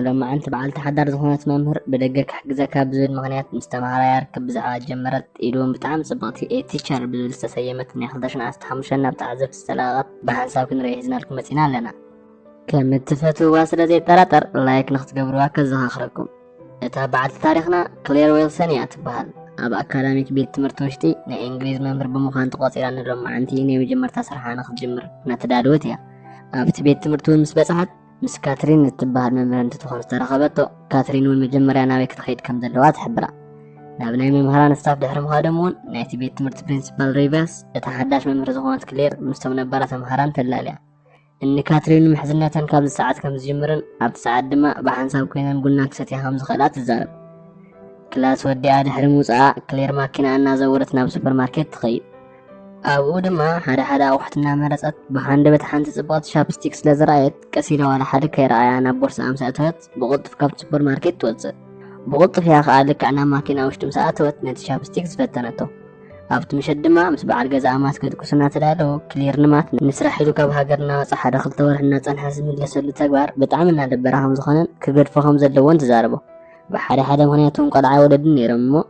ሎማዕንቲ በዓልቲ ሓዳር ዝኾነት መምህር ብደገ ክሕግዘካ ብዝብል ምኽንያት ምስ ተምሃራያ ርክብ ብዛዕባ ጀመረት ኢሉ ብጣዕሚ ጽብቕቲ ኤ ቲቸር ብዝብል ዝተሰየመት ናይ 2015 ናብ ተዓዘብቲ ዝተለቐቐት ብሓንሳብ ክንርኢ ሒዝናልኩም መጺና ኣለና። ከም እትፈትውዋ ስለ ዘይጠራጠር ላይክ ንክትገብርዋ ከዘኻኽረኩም። እታ በዓልቲ ታሪኽና ክሌር ዌልሰን እያ ትበሃል። ኣብ ኣካዳሚክ ቤት ትምህርቲ ውሽጢ ናይ እንግሊዝ መምህር ብምዃን ተቖጺራ ንሎማዕንቲ ናይ መጀመርታ ስርሓ ንክትጅምር እናተዳለወት እያ። ኣብቲ ቤት ትምህርቲ እውን ምስ በጽሓት ምስ ካትሪን እትበሃል መምህር እንትትኾን ዝተረኸበቶ ካትሪን እውን መጀመርያ ናበይ ክትኸይድ ከም ዘለዋ ትሕብራ ናብ ናይ መምህራን ስታፍ ድሕሪ ምኻዶም እውን ናይቲ ቤት ትምህርቲ ፕሪንሲፓል ሪቨስ እታ ሓዳሽ መምህር ዝኾነት ክሌር ምስቶም ነባራ ተምሃራን ተላልያ እኒ ካትሪን ምሕዝነተን ካብዚ ሰዓት ከም ዝጅምርን ኣብቲ ሰዓት ድማ ብሓንሳብ ኮይነን ቡና ክሰትያ ከም ዝኽእላ ትዛረብ ክላስ ወዲኣ ድሕሪ ምውፅኣ ክሌር ማኪና እናዘወረት ናብ ሱፐርማርኬት ትኸይድ ኣብኡ ድማ ሓደ ሓደ ኣቑሑት እናመረጸት ብሃንደበት ሓንቲ ጽብቕቲ ቻፕስቲክ ስለ ዝረኣየት ቀስ ኢላ ዋላ ሓደ ከይረኣያ ናብ ቦርስኣ ምስ ኣእተወት ብቕልጡፍ ካብቲ ሱፐር ማርኬት ትወጽእ ብቕልጡፍ እያ ከዓ ልክዕ ናብ ማኪና ውሽጢ ምስ ኣእተወት ነቲ ቻፕስቲክ ዝፈተነቶ ኣብቲ ምሸት ድማ ምስ በዓል ገዛኣ ማት ከድቅሱ እናተዳለዉ ክሊር ንማት ንስራሕ ኢሉ ካብ ሃገር እናወፀ ሓደ ክልተ ወርሒ እናፀንሐ ዝምለሰሉ ተግባር ብጣዕሚ እናደበራ ከም ዝኾነን ክገድፎ ከም ዘለዎን ትዛረቦ ብሓደ ሓደ ምክንያት እውን ቆልዓ ወለድን ነይሮም እሞ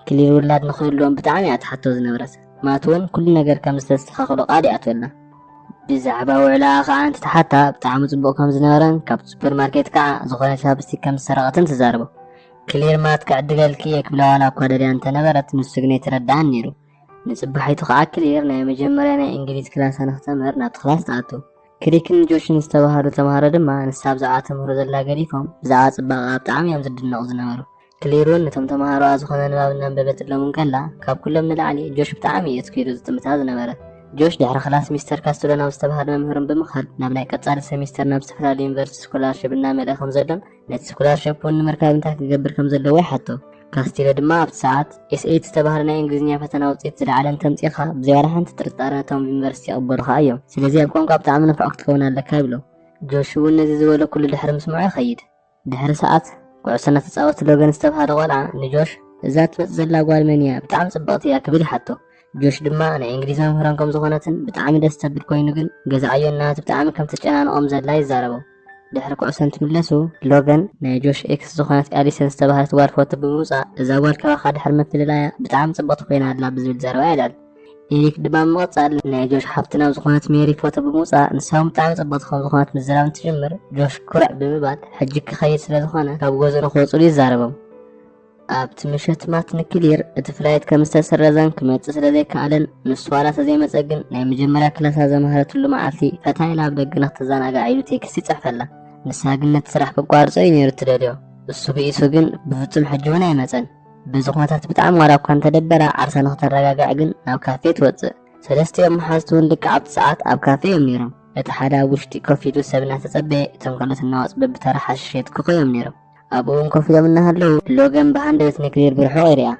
ክሊል ውላድ ንክህልዎም ብጣዕሚ እያ ትሓቶ ዝነበረት ማት እውን ኩሉ ነገር ከም ዝተስተኻኽሎ ቃል ይኣትወልና ብዛዕባ ውዕላኣ ከዓ እንትትሓታ ብጣዕሚ ፅቡቅ ከም ዝነበረን ካብ ሱፐር ማርኬት ከዓ ዝኾነ ቻፕስቲክ ከም ዝሰረቐትን ትዛረቦ ክሊር ማት ክዕድገልኪ እየ ክብላ ዋላ እኳ ደልያ እንተነበረት ንሱ ግን የተረድኣን ነይሩ ንፅባሒቱ ከዓ ክሊር ናይ መጀመርያ ናይ እንግሊዝ ክላሳ ንክተምህር ናብቲ ክላስ ትኣቱ ክሪክን ጆሽን ዝተባሃሉ ተምሃሮ ድማ ንሳ ብዛዕባ ተምህሮ ዘላ ገዲፎም ብዛዕባ ፅባቐኣ ብጣዕሚ እዮም ዝድነቑ ዝነበሩ ክሌር'ውን ነቶም ተማሃሮኣ ዝኾነ ንባብ እናንበበትሎም እንከላ፣ ካብ ኩሎም ንላዕሊ ጆሽ ብጣዕሚ እዩ ኣትኲሩ ዝጥምታ ዝነበረ። ጆሽ ድሕሪ ክላስ ሚስተር ካስትሎ ናብ ዝተባህለ መምህሮም ብምኻድ ናብ ናይ ቀጻሊ ሰሚስተር ናብ ዝተፈላለዩ ዩኒቨርሲቲ ስኮላርሽፕ እናመልኣ ከም ዘሎን ነቲ ስኮላርሽፕ'ውን ንምርካብ እንታይ ክገብር ከም ዘለዎ ይሓቶ። ካስቲሎ ድማ ኣብቲ ሰዓት፣ ኤስኤት ዝተባህለ ናይ እንግሊዝኛ ፈተና ውጽኢት ዝለዓለ እንተምጺእካ ብዘይ ዋላ ሓንቲ ጥርጣረ ነቶም ኣብ ዩኒቨርሲቲ ይቕበሉኻ እዮም። ስለዚ ኣብ ቋንቋ ብጣዕሚ ንፉዕ ክትከውን ኣለካ ይብሎ። ጆሽ'ውን ነዚ ዝበሎ ኩሉ ድሕሪ ምስምዑ ይኸይድ። ድሕሪ ሰዓት ኩዕሶ እናተጻወቱ ሎገን ዝተብሃለ ቆልዓ ንጆሽ እዛ ትመጽእ ዘላ ጓል መን እያ ብጣዕሚ ጽብቕቲ እያ ክብል ይሓቶ ጆሽ ድማ ናይ እንግሊዝ መምህሮም ከም ዝኾነትን ብጣዕሚ ደስ ተብል ኮይኑ ግን ገዛ ዕዮ እናሃት ብጣዕሚ ከም ተጨናንቖም ዘላ ይዛረቡ ድሕሪ ኩዕሶ እንትምለሱ ሎገን ናይ ጆሽ ኤክስ ዝኾነት ኣሊሰን ዝተባህለት ጓል ፎቶ ብምውፃእ እዛ ጓል ካባኻ ድሕሪ ምፍልላያ ብጣዕሚ ፅብቕቲ ኮይና ኣላ ብዝብል ዘረባ የልዕል። ኤሪክ ድማ ብምቕጻል ናይ ጆሽ ሓፍቲ ናብ ዝኾነት ሜሪ ፎቶ ብምውጻእ ንሳ እውን ብጣዕሚ ጽብቕቲ ከም ዝኾነት ምዝራብ እንትጅምር ጆሽ ኩርዕ ብምባል ሕጂ ክኸይድ ስለ ዝኾነ ካብ ገዝኡ ንክወጽሉ ይዛረቦም። ኣብቲ ምሸት ማት ንክሊር እቲ ፍላይት ከም ዝተሰረዘን ክመጽእ ስለ ዘይከኣለን ንሱ ዋላ ተዘይመጸ ግን ናይ መጀመርያ ክላሳ ዘምሃረትሉ መዓልቲ ፈታ ኢላ ኣብ ደገ ንክትዘናጋዕ ኢሉ ቴክስት ይጽሕፈላ። ንሳ ግን ነቲ ስራሕ ከቋርጾ እዩ ነይሩ እትደልዮ። እሱ ብኢሱ ግን ብፍጹም ሕጂ እውን ኣይመጸን። ብዝኾነታት ብጣዕሚ ዋላ እኳ እንተደበራ ዓርሳ ንክተረጋግዕ ግን ናብ ካፌ ትወጽእ። ሰለስቲኦም መሓዝቲ እውን ልክዕ ኣብቲ ሰዓት ኣብ ካፌ እዮም ነይሮም። እቲ ሓደ ኣብ ውሽጢ ኮፍ ኢሉ ሰብ እናተጸበየ እቶም ካልኦት እናወጹ በብተራ ሓሽሽ የትክኹ እዮም ነይሮም። ኣብኡ እውን ኮፍ ኢሎም እናሃለዉ ሎገን ብሃንደበት ንክሊር ብርሑቕ ይሪኣ።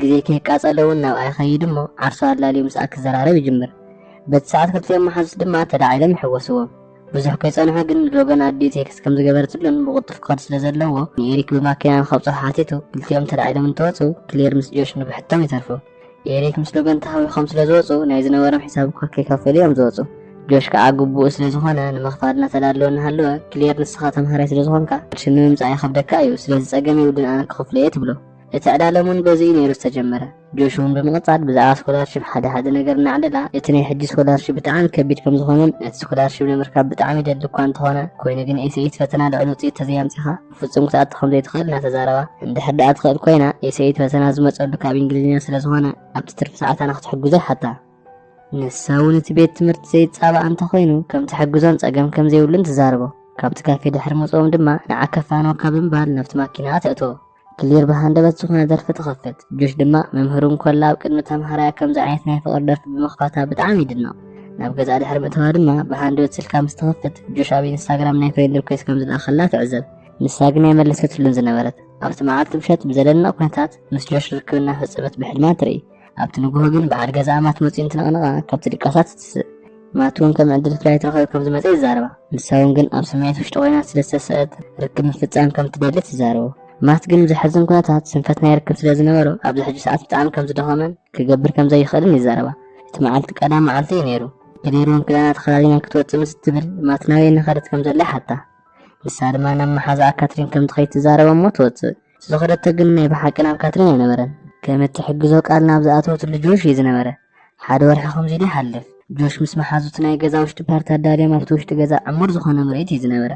ግዜ ከየቃጸለ እውን ናብኣ ይኸይድ እሞ ዓርሱ ኣላልዩ ምስኣ ክዘራረብ ይጅምር። በቲ ሰዓት ክልቲኦም መሓዙት ድማ ተላዒሎም ይሕወስዎም። ብዙሕ ከይጸንሐ ግን ሎገን ኣዲኡ ቴክስት ከም ዝገበረትሉን ብቕልጡፍ ክኸድ ስለ ዘለዎ ንኤሪክ ብማኪና ንኸብጽሖ ሓቲቱ ክልቲኦም ተላዒሎም እንተወጹ ክሌር ምስ ጆሽ ንብሕቶም ይተርፉ ኤሪክ ምስ ሎገን ተሃዊኾም ስለ ዝወጹ ናይ ዝነበሮም ሒሳብ እኳ ከይከፈሉ እዮም ዝወጹ ጆሽ ከዓ ግቡኡ ስለ ዝኾነ ንምኽፋል እናተዳለወ እናሃለወ ክሌር ንስኻ ተምሃራይ ስለ ዝኾንካ ቅርሺ ንምምጻእ ይኸብደካ እዩ ስለዚ ጸገም የብሉን ኣነ ክኸፍሎ እየ ትብሎ እቲ ዕዳሎም እውን በዚ እዩ ነይሩ ዝተጀመረ ጆሹ ብምቕጻል ብዛዕባ ስኮላርሽፕ ሓደ ሓደ ነገር እናዕለላ እቲ ናይ ሕጂ ስኮላርሽፕ ብጣዕሚ ከቢድ ከም ዝኾነን ነቲ ስኮላርሽፕ ንምርካብ ብጣዕሚ ይደሊ እኳ እንተኾነ ኮይኑ ግን ኤስኤት ፈተና ልዕሊ ውፅኢት ተዘይኣምፂኻ ብፍጹም ክትኣቱ ከም ዘይትኽእል እናተዛረባ እንድሕር ደኣ ትኽእል ኮይና ኤስኤት ፈተና ዝመፀሉ ካብ እንግሊዝኛ ስለ ዝኾነ ኣብቲ ትርፊ ሰዓታ ንክትሕግዞ ይሓታ ንሳ እውን እቲ ቤት ትምህርቲ ዘይፃባእ እንተኾይኑ ከም ትሕግዞን ፀገም ከም ዘይብሉን ትዛረቦ ካብቲ ካፌ ድሕሪ ምፅኦም ድማ ንዓ ከፋኖካ ብምባል ናብቲ ማኪና ተእትዎ ክሊር ብሃንደበት ዝኾነ ደርፊ ትኸፍት ጆሽ ድማ መምህሩ እንኮላ ኣብ ቅድሚ ተምሃራያ ከምዚ ዓይነት ናይ ፍቕሪ ደርፊ ብምኽፋታ ብጣዕሚ ይድነቕ ናብ ገዛ ድሕሪ ምእተዋ ድማ ብሃንደበት ስልካ ምስ ትኸፍት ጆሽ ኣብ ኢንስታግራም ናይ ፍሬንድ ሪኩዌስት ከም ዝለኣኸላ ትዕዘብ ንሳ ግን ኣይመለሰትሉን ዝነበረት ኣብቲ መዓልቲ ምሸት ብዘደንቕ ኩነታት ምስ ጆሽ ርክብ እናፈፀመት ብሕልማ ትርኢ ኣብቲ ንግሆ ግን በዓል ገዛኣ ማት መፅኡ እንትነቕንቓ ካብቲ ድቃሳት ትትስእ ማት እውን ከም ዕድል ፍላይ ትረኸብ ከም ዝመፀ ይዛረባ ንሳ እውን ግን ኣብ ስምዒት ውሽጢ ኮይና ስለ ዝተሰእት ርክብ ምፍፃም ከም ትደሊ ትዛረቡ ማት ግን ብዘሕዝን ኩነታት ስንፈት ናይ ርክብ ስለ ዝነበሮ ኣብዚ ሕጂ ሰዓት ብጣዕሚ ከም ዝደኸመን ክገብር ከም ዘይኽእልን ይዛረባ እቲ መዓልቲ ቀዳም መዓልቲ እዩ ነይሩ ገሊሮም ክዳና ተኸዳዲና ክትወፅእ ምስ እትብል ማት ናበይ እናኸደት ከም ዘላ ይሓታ ንሳ ድማ ናብ መሓዛኣ ካትሪን ከም ትኸይድ ትዛረቦ እሞ ትወፅእ ዝኸደቶ ግን ናይ ብሓቂ ናብ ካትሪን ኣይነበረን። ከም እትሕግዞ ቃል ናብ ዝኣተወትሉ ጆሽ እዩ ዝነበረ። ሓደ ወርሒ ከምዚ ኢሉ ይሓልፍ። ጆሽ ምስ መሓዙቱ ናይ ገዛ ውሽጢ ፓርቲ ኣዳልዮም ኣብቲ ውሽጢ ገዛ ዕሙር ዝኾነ ምርኢት እዩ ዝነበረ።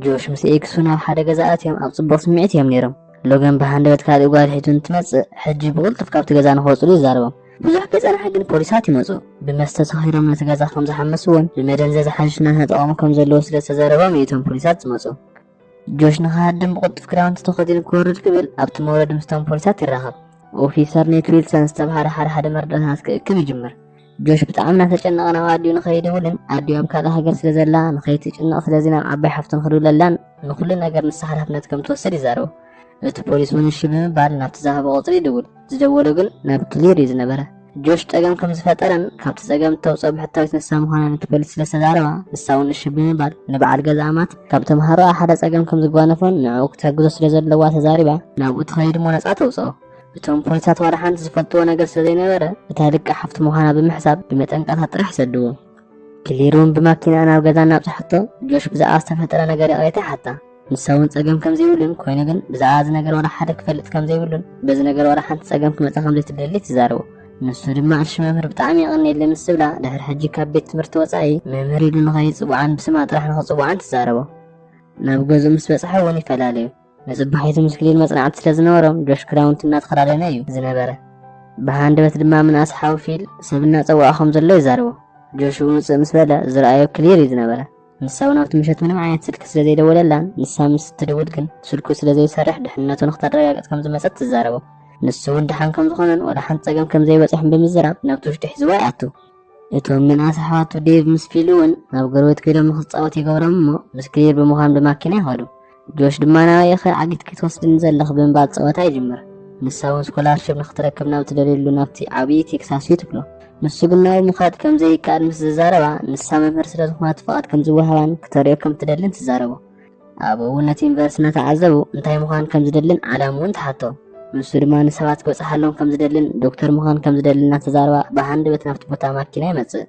ጆሽ ምስ ኤክሱ ናብ ሓደ ገዛ ኣትዮም ኣብ ጽቡቕ ስምዒት እዮም ነይሮም። ሎገን ብሃንደበት ካልእ ጓል ሒቱ እንትመጽእ ሕጂ ብቕልጡፍ ካብቲ ገዛ ንኸወጽሉ ይዛረቦም። ብዙሕ ከይጸንሐ ግን ፖሊሳት ይመጹ። ብመስተ ሰኺሮም ነቲ ገዛ ከም ዝሓመስዎን ብመደንዘዚ ሓሽሽ እናተጠቐሙ ከም ዘለዉ ስለ ዝተዘረቦም እዩ እቶም ፖሊሳት ዝመጹ። ጆሽ ንክሃድም ብቕልጡፍ ክዳውንቲ ተኸዲኑ ክወርድ ክብል ኣብቲ መውረዲ ምስቶም ፖሊሳት ይራኸብ። ኦፊሰር ኔት ዊልሰን ዝተብሃለ ሓደ ሓደ መርዳእታት ክእክብ ይጅምር። ጆሽ ብጣዕሚ እናተጨነቐ ናብ ኣዲኡ ንኸይድውልን ኣዲኡ ኣብ ካልእ ሃገር ስለ ዘላ ንኸይትጭነቕ ስለዚ ናብ ዓባይ ሓፍቱ ንክድውለላን ንኹሉ ነገር ንሳ ሓላፍነት ከም ትወስድ ይዛረቦ። እቲ ፖሊስ እውን እሺ ብምባል ናብቲ ዝሃቦ ቁፅሪ ይድውል። ዝደወሎ ግን ናብ ክሊር እዩ ዝነበረ። ጆሽ ፀገም ከም ዝፈጠረን ካብቲ ፀገም እተውፅኦ ብሕታዊት ንሳ ምዃና ነቲ ፖሊስ ስለ ዝተዛረባ ንሳ እውን እሺ ብምባል ንበዓል ገዝኣ ማት ካብ ተምሃሮኣ ሓደ ፀገም ከም ዝጓነፎን ንዕኡ ክትሕግዞ ስለ ዘለዋ ተዛሪባ ናብኡ ትኸይድ እሞ ነፃ ተውፅኦ። እቶም ፖሊሳት ዋላ ሓንቲ ዝፈልጥዎ ነገር ስለ ዘይነበረ እታ ድቃ ሓፍቱ ምዃና ብምሕሳብ ብመጠንቀቕታ ጥራሕ ሰድዎ። ክሊር እውን ብማኪንኣ ናብ ገዛ እናብፅሐቶ ጆሽ ብዛዕባ ዝተፈጠረ ነገር ይቕሬታ ይሓታ። ንሳ እውን ጸገም ከም ዘይብሉን ኮይኑ ግን ብዛዕባ እዚ ነገር ዋላ ሓደ ክፈልጥ ከም ዘይብሉን በዚ ነገር ዋላ ሓንቲ ጸገም ክመጻ ከም ዘይትደሊ ትዛረቡ ንሱ ድማ እሺ መምህር ብጣዕሚ የቐንየለይ ምስ ዝብላ ድሕሪ ሕጂ ካብ ቤት ትምህርቲ ወጻኢ መምህር ኢሉ ንኸይጽውዓን ብስማ ጥራሕ ንኽጽውዓን ትዛረቦ ናብ ገዝኡ ምስ በጽሐ እውን ይፈላለዩ ንጽባሒቱ ምስ ክሊል መጽናዕቲ ስለ ዝነበሮም ጆሽ ክዳውንቲ እናተኸዳደነ እዩ ዝነበረ ብሃንደበት ድማ ምንኣስ ሓዊ ፊል ሰብ እናጸውዖ ከም ዘሎ ይዛረቦ ጆሽ ውፅእ ምስ በለ ዝረኣዮ ክሊር እዩ ዝነበረ ንሳ እውን ኣብቲ ምሸት ምንም ዓይነት ስልኪ ስለ ዘይደወለላን ንሳ ምስ እትድውል ግን ስልኩ ስለ ዘይሰርሕ ድሕንነቱ ንክተረጋግፅ ከም ዝመፀት ትዛረቦ ንሱ እውን ድሓን ከም ዝኾነን ወላ ሓንቲ ፀገም ከም ዘይበፅሖን ብምዝራብ ናብቲ ውሽጢ ሒዝዋ ይኣቱ እቶም ምንኣስ ኣሕዋቱ ዴቭ ምስ ፊል እውን ናብ ጎረቤት ከይዶም ንክፃወት ይገብሮም እሞ ምስ ክሊር ብምዃን ብማኪና ይኸዱ ጆሽ ድማ ናበይ ኢኺ ዓጊትኪ ትወስድኒ ዘለኺ ብምባል ጸወታ ይጅምር። ንሳ እውን ስኮላርሽፕ ንኽትረክብ ናብ ትደልየሉ ናብቲ ዓብዪ ቴክሳስ እዩ ትብሎ። ንሱ ግን ናብኡ ምኻድ ከም ዘይከኣል ምስ ዝዛረባ፣ ንሳ መምህር ስለ ዝኾነት ፍቓድ ከም ዝወሃባን ክተርእዮ ከም እትደልን ትዛረቦ። ኣብኡ እውን ነቲ ዩኒቨርሲቲ እናተዓዘቡ እንታይ ምዃን ከም ዝደልን ዓላምኡን ትሓቶ። ንሱ ድማ ንሰባት ክበጽሓሎም ከም ዝደልን ዶክተር ምዃን ከም ዝደልን እናተዛረባ ብሃንደበት ናብቲ ቦታ ማኪና ይመጽእ።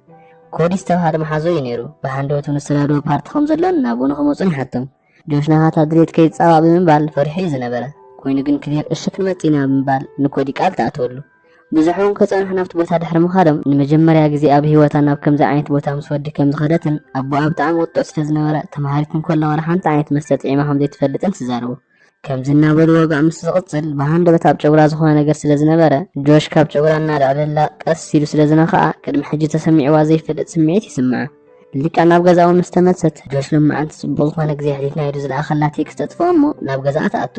ኮዲ ዝተባህለ መሓዞ እዩ ነይሩ። ብሃንደበቱ ንዝተዳደወ ፓርቲ ከም ዘሎን ናብኡ ንክመፁን ይሓቶም። ጆሽ ናታ ድሌት ከይፃባእ ብምባል ፈሪሑ እዩ ዝነበረ። ኮይኑ ግን ክሊር እሺ ክንመፅ ኢና ብምባል ንኮዲ ቃል ተኣተወሉ። ብዙሕ እውን ከፀንሑ ናብቲ ቦታ ድሕሪ ምኻዶም ንመጀመርያ ግዜ ኣብ ህይወታ ናብ ከምዚ ዓይነት ቦታ ምስ ወዲ ከም ዝኸደትን ኣቦኣ ብጣዕሚ ቁጡዕ ስለዝነበረ ተምሃሪት እንከላ ዋላ ሓንቲ ዓይነት መስተ ጥዒማ ከም ዘይትፈልጥን ትዛረቡ። ከምዚ እናበሉ ወግኣ ምስ ዝቕጽል ብሃንደበት ኣብ ጨጉራ ዝኾነ ነገር ስለ ዝነበረ ጆሽ ካብ ጨጉራ እናልዕለላ ቀስ ኢሉ ስለ ዝነኽኣ ቅድሚ ሕጂ ተሰሚዕዋ ዘይፈልጥ ስምዒት ይስምዓ። ልክዕ ናብ ገዛኡ ምስ ተመልሰት ጆሽ ሎም መዓልቲ ጽቡቕ ዝኾነ ግዜ ኣሕሊፍና ኢሉ ዝለኣኸላ ቴክስት ተጥፍኦ እሞ ናብ ገዛኣ ትኣቱ።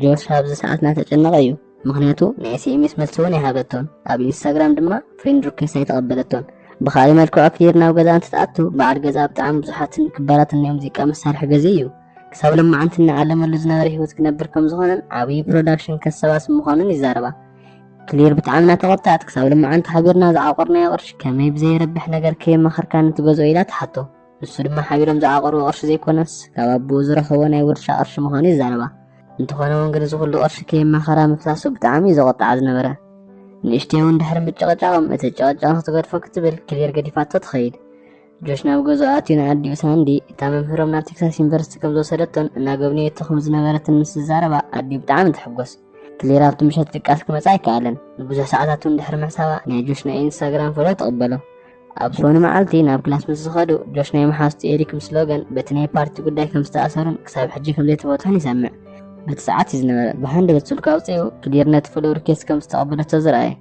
ጆሽ ኣብዚ ሰዓት እናተጨነቐ እዩ። ምኽንያቱ ንኤስኤምኤስ መልሲ'ውን ኣይሃበቶን፣ ኣብ ኢንስታግራም ድማ ፍሬንድ ሪኩዌስት ኣይተቐበለቶን። ብኻልእ መልክዑ ክሊር ናብ ገዛኣ እንትትኣቱ በዓል ገዛኣ ብጣዕሚ ብዙሓትን ክባራትን ናይ ሙዚቃ መሳርሒ ገዚኡ እዩ። ክሳብ ሎማዓንቲ እናኣለመሉ ዝነበረ ህይወት ክነብር ከምዝኾነን ዓብዪ ፕሮዳክሽን ከሰባስብ ምዃኑን ይዛረባ። ክሊር ብጣዕሚ እናተቖጠዐት ክሳብ ሎማዓንቲ ሓቢርና ዝዓቆርናዮ ቅርሺ ከመይ ብዘይረብሕ ነገር ከየማኸርካኒ ትገዝኦ ኢላ ትሓቶ። ንሱ ድማ ሓቢሮም ዝዓቐርዎ ቅርሺ ዘይኮነስ ካብ ኣቦኡ ዝረኸቦ ናይ ውርሻ ቅርሺ ምዃኑ ይዛረባ። እንተኾነ እውን ግን እዚ ኩሉ ቅርሺ ከየማኸራ ምፍሳሱ ብጣዕሚ እዩ ዘቖጥዓ ዝነበረ። ንእሽተይ እውን ድሕሪ ምጭቕጫቖም እቲ ጨቕጫቕ ክትገድፎ ክትብል ክሌር ገዲፋቶ ትኸይድ። ጆሽ ናብ ገዝኡ ኣትዩ ንኣዲኡ ሳንዲ እታ መምህሮም ናብ ቴክሳስ ዩኒቨርሲቲ ከም ዝወሰደቶን እናጎብነየቶ ከም ዝነበረትን ምስ ዝዛረባ ኣዲኡ ብጣዕሚ ትሕጎስ። ክሌር ኣብቲ ምሸት ድቃስ ክመጽ ኣይከኣለን። ንብዙሕ ሰዓታት እውን ድሕሪ ምሕሳባ ናይ ጆሽ ናይ ኢንስታግራም ፎሎ ትቕበሎ። ኣብ ዝኾነ መዓልቲ ናብ ክላስ ምስ ዝኸዱ ጆሽ ናይ መሓዝቱ ኤሪክ ምስ ሎገን በቲ ናይ ፓርቲ ጉዳይ ከም ዝተኣሰሩን ክሳብ ሕጂ ከም ዘይተፈትሑን ይሰምዕ። በቲ ሰዓት እዩ ዝነበረ ብሃንድ ገጽ ስልኩ ኣውጺኡ ክዲር ነቲ ፍሉር ኬስ ከም ዝተቐበለቶ ዝረኣየ።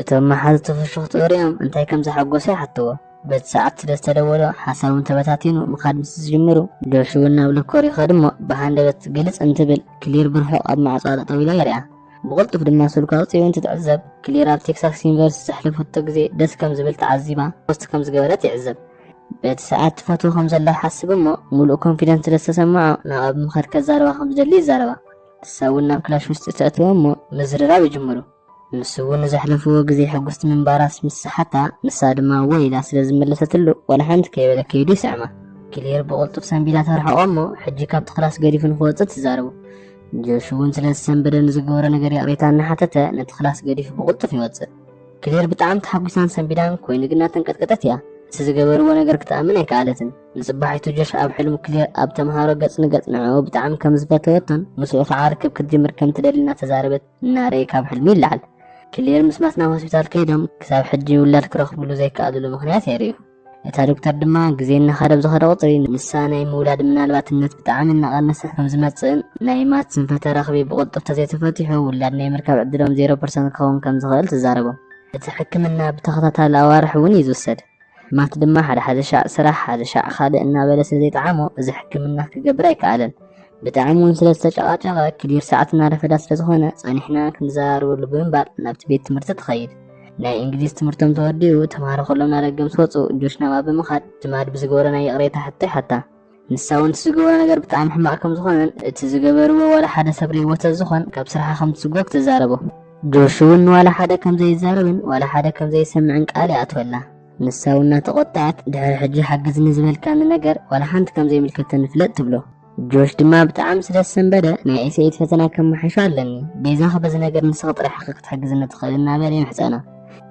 እቶም መሓዝቱ ፍሽኽትኡ ሪኦም እንታይ ከም ዘሓጎሶ ይሓትዎ። በቲ ሰዓት ስለ ዝተደወሎ ሓሳቦም ተበታቲኑ ምኻድ ምስ ዝጅምሩ ጆሽ እውን ናብ ሎኮር ይኸድ እሞ ብሃንደበት ግልጽ እንትብል ክሊር ብርሑቕ ኣብ ማዕጾ ጠጠው ኢላ ይሪኣ። ብቕልጡፍ ድማ ስልኳ ኣውፂኡ እንትትዕዘብ ክሊር ኣብ ቴክሳስ ዩኒቨርሲቲ ዘሕለፈቶ ግዜ ደስ ከም ዝብል ተዓዚባ ፖስት ከም ዝገበረት ይዕዘብ። በቲ ሰዓት ትፈትዎ ከም ዘላ ይሓስብ እሞ ሙሉእ ኮንፊደንስ ስለ ዝተሰምዖ ናብ ኣብ ምኻድ ከዛርባ ከም ዝደሊ ይዛረባ። ንሳ እውን ናብ ክላሽ ውሽጢ ተእትዎ እሞ ምዝርራብ ይጅምሩ። ንሱ እውን ንዘሕለፍዎ ግዜ ሕጉስቲ ምንባራስ ምስ ሰሓታ ንሳ ድማ እወ ኢላ ስለ ዝመለሰትሉ ዋላ ሓንቲ ከይበለ ከይዱ ይስዕማ። ክሊር ብቕልጡፍ ሰንቢዳ ተርሕቖ እሞ ሕጂ ካብቲ ክላስ ገዲፉ ንክወፅእ ትዛረቦ። ጆሽ እውን ስለ ዝሰንበደ ንዝገበሮ ነገር ይቕሬታ እናሓተተ ነቲ ክላስ ገዲፉ ብቕልጡፍ ይወፅእ ክሌር ብጣዕሚ ተሓጒሳን ሰንቢዳን ኮይኑ ግና ተንቀጥቀጠት እያ እቲ ዝገበርዎ ነገር ክትኣምን ኣይከኣለትን ንፅባሒቱ ጆሽ ኣብ ሕልሙ ክሌር ኣብ ተምሃሮ ገፅ ንገፅ ንዕኡ ብጣዕሚ ከም ዝፈተወቶን ምስኡ ከዓ ርክብ ክትጅምር ከም ትደሊ እናተዛረበት እናረየ ካብ ሕልሙ ይለዓል ክሌር ምስ ማት ናብ ሆስፒታል ከይዶም ክሳብ ሕጂ ውላድ ክረኽብሉ ዘይከኣልሉ ምክንያት የርእዩ እታ ዶክተር ድማ ግዜ እናኸደ ብዝኸደ ቁፅሪ ንሳ ናይ ምውላድ ምናልባትነት ብጣዕሚ እናቐነሰ ከም ዝመፅእን ናይ ማት ስንፈተ ረኽቢ ብቕልጡፍ ተዘይተፈቲሑ ውላድ ናይ ምርካብ ዕድሎም ዜሮ ፐርሰንት ክኸውን ከም ዝኽእል ትዛረቦም። እቲ ሕክምና ብተኸታታሊ ኣዋርሕ እውን እዩ ዝውሰድ። ማት ድማ ሓደ ሓደ ሻዕ ስራሕ ሓደ ሻዕ ካልእ እናበለ ስለዘይጠዓሞ እዚ ሕክምና ክገብር ኣይከኣለን። ብጣዕሚ እውን ስለ ዝተጨቓጨቐ ክዲር ሰዓት እናረፈዳ ስለ ዝኾነ ጸኒሕና ክንዘራርበሉ ብምባል ናብቲ ቤት ትምህርቲ ትኸይድ ናይ እንግሊዝ ትምህርቶም ተወዲኡ ተምሃሮ ከሎም ናደገ ምስ ወፁ ጆሽ ናብኣ ብምኻድ ድማድ ብዝገበሮ ናይ ይቕሬታ ሕቶ ይሓታ ንሳ እውን እቲ ዝገበሮ ነገር ብጣዕሚ ሕማቕ ከም ዝኾነን እቲ ዝገበርዎ ዋላ ሓደ ሰብ ርእይዎ ተዝኾን ካብ ስራሓ ከም ትስጎግ ትዛረቦ ጆሽ እውን ዋላ ሓደ ከም ዘይዛረብን ዋላ ሓደ ከም ዘይሰምዕን ቃል ይኣትወላ ንሳ እውን እናተቖጠዐት ድሕሪ ሕጂ ሓግዝኒ ዝበልካኒ ነገር ዋላ ሓንቲ ከም ዘይምልከተኒ ፍለጥ ትብሎ። ጆሽ ድማ ብጣዕሚ ስለ ዝሰንበደ ናይ ኤስኤት ፈተና ከመሓይሾ ኣለኒ፣ ቤዛኺ በዚ ነገር ንስኺ ጥራሕ ኢኺ ክትሕግዝኒ ትኽእሊ እናበለ ይምሕጸና።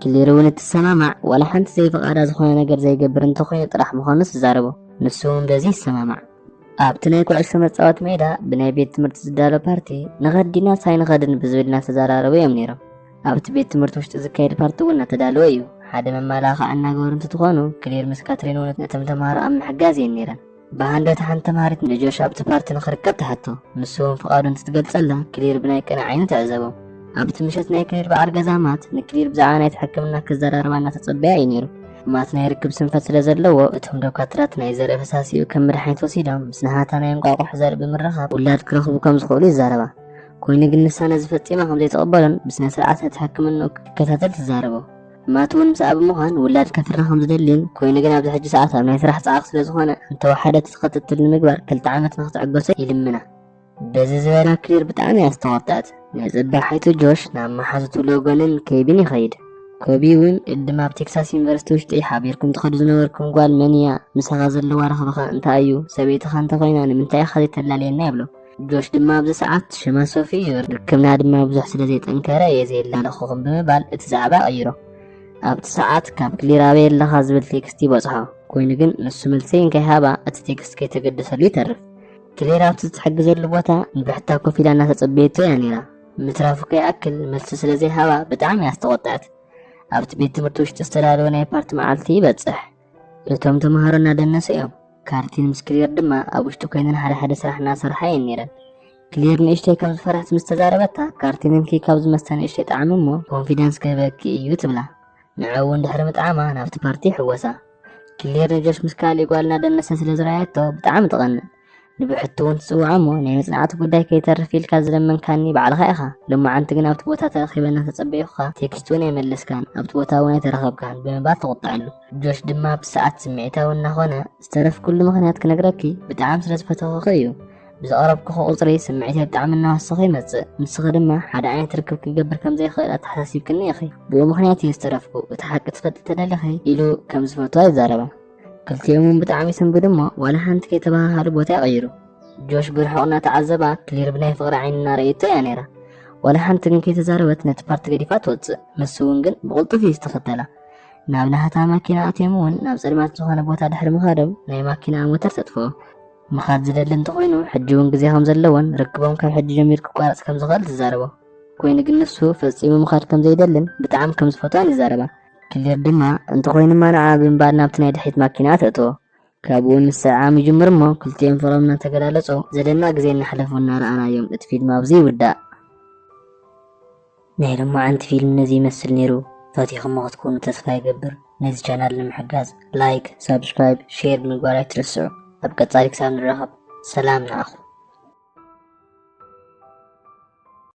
ክሊር እውን እትሰማማዕ ዋላ ሓንቲ ዘይፍቓዳ ዝኾነ ነገር ዘይገብር እንተኾይኑ ጥራሕ ምዃኑ ትዛረቦ። ንሱ እውን በዚ ይሰማማዕ። ኣብቲ ናይ ኩዕሶ መጻወቲ ሜዳ ብናይ ቤት ትምህርቲ ዝዳሎ ፓርቲ ንኸድ ዲናስ ኣይንኸድን ብዝብል እናተዘራረቡ እዮም ነይሮም። ኣብቲ ቤት ትምህርቲ ውሽጢ ዝካየድ ፓርቲ እውን እናተዳለወ እዩ። ሓደ መመላኽዒ እናገበሩ እንትትኾኑ ክሌር ምስ ካትሪን እውን ነቶም ተምሃሮ ኣብ ምሕጋዝ እየን ነይረን። ብሃንደት ሓንቲ ተምሃሪት ንጆሽ ኣብቲ ፓርቲ ንኽርከብ ትሓቶ ንሱ እውን ፍቓዱ እንትትገልጸላ ክሊር ብናይ ቅነ ዓይኑ ትዕዘቦ ኣብቲ ምሸት ናይ ክሊር በዓል ገዛማት ንክሊር ብዛዕባ ናይቲ ሕክምና ክዘራርባ እናተጸበያ እዩ ነይሩ ማት ናይ ርክብ ስንፈት ስለ ዘለዎ እቶም ዶካትራት ናይ ዘርኢ ፈሳሲኡ ከም መድሓኒት ወሲዶም ምስ ናሃታ ናይ እንቋቑሖ ዘርኢ ብምርኻብ ውላድ ክረኽቡ ከም ዝኽእሉ ይዛረባ። ኮይኑ ግን ንሳ ነዚ ፈጺማ ከም ዘይትቕበሎን ብስነ ስርዓት ነቲ ሕክምንኡ ክከታተል ትዛረቦ። ማት እውን ምስኣ ብምዃን ውላድ ከፍሪ ከም ዝደሊን ኮይኑ ግን ኣብዚ ሕጂ ሰዓት ኣብ ናይ ስራሕ ጸዓቕ ስለ ዝኾነ እንተወሓደ እቲ ክትትል ንምግባር ክልተ ዓመት ንክትዕገሶ ይልምና። በዚ ዝበላ ክሊር ብጣዕሚ እያ ዝተቆጠዐት ንፅባሒቱ ጆሽ ናብ መሓዙቱ ሎጎንን ኬቢን ይኸይድ ኮቢ እውን ቅድም ኣብ ቴክሳስ ዩኒቨርሲቲ ውሽጢ ሓቢርኩም ትኸዱ ዝነበርኩም ጓል መን እያ ምሳኻ ዘለዋ ረኽብኻ እንታይ እዩ ሰበይትኻ እንተኾይና ንምንታይ ኢኻ ዘይተላለየና ይብሎ ጆሽ ድማ ኣብዚ ሰዓት ሽማ ሶፊ እዩ ርክብና ድማ ብዙሕ ስለ ዘይጠንከረ እየ ዘየላለኹኹም ብምባል እቲ ዛዕባ ቀይሮ ኣብቲ ሰዓት ካብ ክሊር ኣበይ ኣለኻ ዝብል ቴክስት ይበፅሖ ኮይኑ ግን ንሱ መልሲ እንከይሃባ እቲ ቴክስት ከይተገደሰሉ ይተርፍ ክሌር ኣብቲ ዝትሕግዘሉ ቦታ ብሕታ ኮፍ ኢላ እናተጸበየቶ እያ ነይራ። ምትራፉ ከይኣክል መልሲ ስለ ዘይሃባ ብጣዕሚ እያ ዝተቖጥዐት። ኣብቲ ቤት ትምህርቲ ውሽጢ ዝተዳለወ ናይ ፓርቲ መዓልቲ ይበጽሕ። እቶም ተምሃሮ እናደነሱ እዮም። ካርቲን ምስ ክሌር ድማ ኣብ ውሽጢ ኮይነን ሓደ ሓደ ስራሕ እናሰርሓ እየን ነይረን። ክሌር ንእሽተይ ከም ዝፈርሐት ምስ ተዛረበታ ካርቲን እንኪ ካብዚ መስተ ንእሽተይ ጣዕሚ እሞ ኮንፊደንስ ክህበኪ እዩ ትብላ። ንዕኡ እውን ድሕሪ ምጥዓማ ናብቲ ፓርቲ ይሕወሳ። ክሌር ንጆሽ ምስ ካልእ ጓል እናደነሰ ስለ ዝረኣየቶ ብጣዕሚ ትቐንእ ንብሕቲ እውን ትጽውዖ እሞ ናይ መጽናዕቲ ጉዳይ ከይተርፍ ኢልካ ዝለመንካኒ ባዕልኻ ኢኻ ሎማዓንቲ ግን ኣብቲ ቦታ ተረኺበ እናተጸበዩኻ ቴክስት እውን ኣይመለስካን ኣብቲ ቦታ እውን ኣይተረኸብካን ብምባል ተቖጠዐሉ ጆሽ ድማ ብሰዓት ስምዒታዊ እናኾነ ዝተረፍኩሉ ምኽንያት ክነግረኪ ብጣዕሚ ስለ ዝፈተኹኺ እዩ ብዘቕረብክኹ ቁፅሪ ስምዒተይ ብጣዕሚ እናወሰኸ ይመፅእ ንስኺ ድማ ሓደ ዓይነት ርክብ ክገብር ከም ዘይኽእል ኣተሓሳሲብክኒ ኢኺ ብኡ ምክንያት እዩ ዝተረፍኩ እቲ ሓቂ ትፈልጢ ተደሊኺ ኢሉ ከም ዝፈትዋ ይዛረባ ክልቲኦም እውን ብጣዕሚ ይስንብዱ እሞ ዋላ ሓንቲ ከይተባሃሃሉ ቦታ ይቐይሩ ጆሽ ብርሑቕ እናተዓዘባ ክሊር ብናይ ፍቕሪ ዓይኒ እናረእየቶ እያ ነይራ ዋላ ሓንቲ ግን ከይተዛረበት ነቲ ፓርቲ ገዲፋ ትወፅእ ንሱ እውን ግን ብቕልጡፍ እዩ ዝተኸተላ ናብ ናህታ ማኪና ኣትዮም እውን ናብ ፀልማት ዝኾነ ቦታ ድሕሪ ምኻዶም ናይ ማኪና ሞተር ተጥፍኦ ምኻድ ዝደሊ እንተኾይኑ ሕጂ እውን ግዜ ከም ዘለዎን ርክቦም ካብ ሕጂ ጀሚሩ ክቋረጽ ከም ዝኽእል ትዛረቦ። ኮይኑ ግን ንሱ ፈጺሙ ምኻድ ከም ዘይደልን ብጣዕሚ ከም ዝፈትዋን ይዛረባ። ክሌር ድማ እንተኾይኑማ ንዓ ብምባል ናብቲ ናይ ድሕሪት ማኪና ተእትዎ። ካብኡ ምስዕዓም ይጅምር እሞ ክልቲኦም ፍቕሮም እናተገላለጹ ዘደንቕ ግዜ እናሕለፉ እናረኣናዮም እቲ ፊልም ኣብዚ ይውዳእ። ናይ ሎማዓንቲ ፊልም ነዚ ይመስል ነይሩ ፈቲኹሞ ክትኮኑ ተስፋ ይገብር ነዚ ቻናል ንምሕጋዝ ላይክ ሳብስክራይብ ሼር ምግባር ኣይትረስዑ ኣብ ቀፃሊ ክሳብ ንራኸብ ሰላም ንዓኹም።